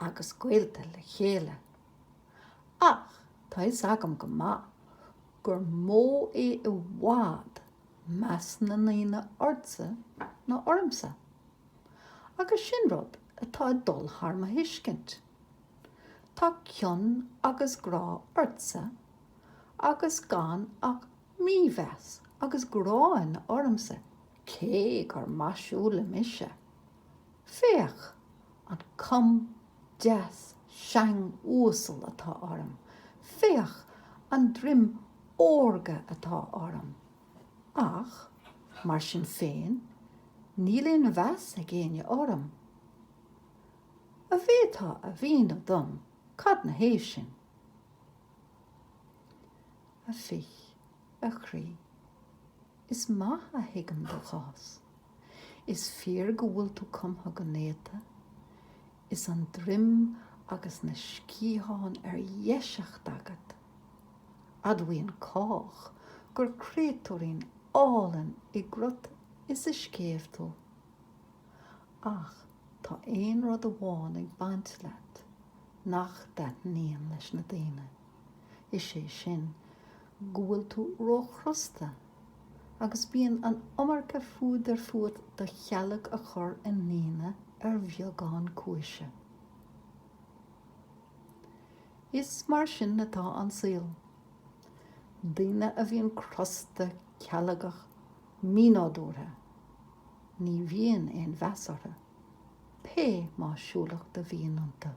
agus gaolta le chéile. Ach tá fhios agam go maith gur mó é i bhfad meas na ndaoine ortsa ná ormsa. Agus sin rud atá ag dul thar mo thuiscint. Tá cion agus grá ortsa agus gan ach mímheas agus gráin ormsa cé gur maisiúla mise. Féach an com deas seang uasal atá orm, féach an druim órga atá orm. Ach mar sin féin níl aon mheas ag éinne orm. An bhféadfá a mhíniú dom cad ina thaobh sin? A bhich, a chroí, is maith a thuigim do chás. Is fíor go bhfuil tú cumtha go néata. Is an droim agus na sciatháin ar dheiseacht agat. Admhaíonn cách gur créatúirín álainn i gcruth is i scéimh tú. Ach tá aon rud amháin ag baint leat nach dtaitníonn leis na daoine. Is é sin go bhfuil tú róchrosta. agus bíonn an iomarca fuadair fút do chealg a chur i ndaoine ar bheagán cúise. Is mar sin atá an saol. Daoine a bhíonn crosta, cealgach, mínádúrtha, ní bhíonn aon mheas orthu, pé maisiúlacht a bhíonn iontu.